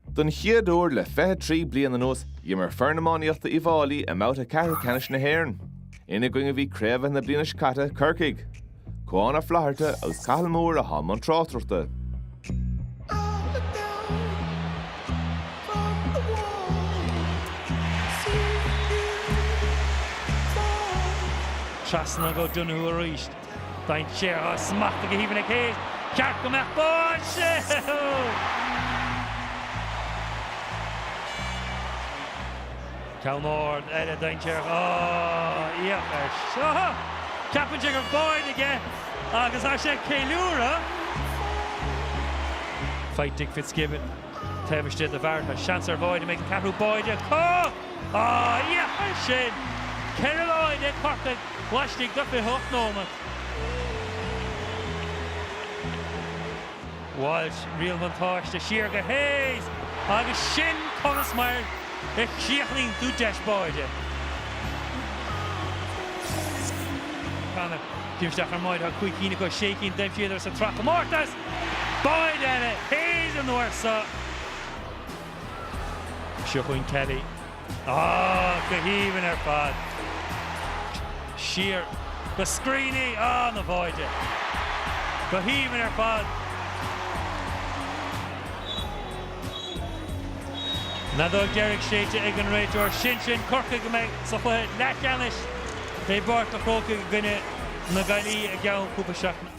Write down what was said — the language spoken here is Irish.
Don chéad uair le 23 bliain anuas, d'imir foireann iománaíochta Uíbh Fháilí i mbabhta ceathrú ceannais na hÉireann. Ina gcoinne a bhí craobhaithe na bliana seo caite, Corcaigh. Cuán Ó Flatharta agus Cathal Moore atá i mbun tráchtaireachta. Trasna go Donoghue arís. Dainséarach, smachtaithe go haoibhinn ag Hayes. Cheart go mbeadh báide! Ceann ard eile dainséarach é seo. Ceapann sé gur báide aige agus tá sé ag ceiliúradh. Faighte ag Fitzgibbon. Taobh istigh de Barrett, seans ar bháide, an mbeidh an ceathrú báide acu! Ah, yeah! Agus sin ceithre bháide ag Corcaigh laistigh de 28 nóiméad. Walsh, riail bhuntáiste, siar go Hayes! Agus sin conas mar a chríochnaíonn tú deis báide. Connor, díriú isteach ar an mbáide, tá cúig cinn acu, sé cinn d'aimsíodar sa tsraithchomórtas! Báide ag Hayes an uair so. Seo chugainn Kelly. Ááá, go haoibhinn ar fad. Siar go Screeney, ááá ina bháide. Go haoibhinn ar fad. An fheadóg deiridh séidte ag an réiteoir. Sin sin Corcaigh a mbeidh sa chluiche leathcheannais i bPáirc a' Chrócaigh i gcoinne na Gaillimhe i gceann cúpla seachtaine.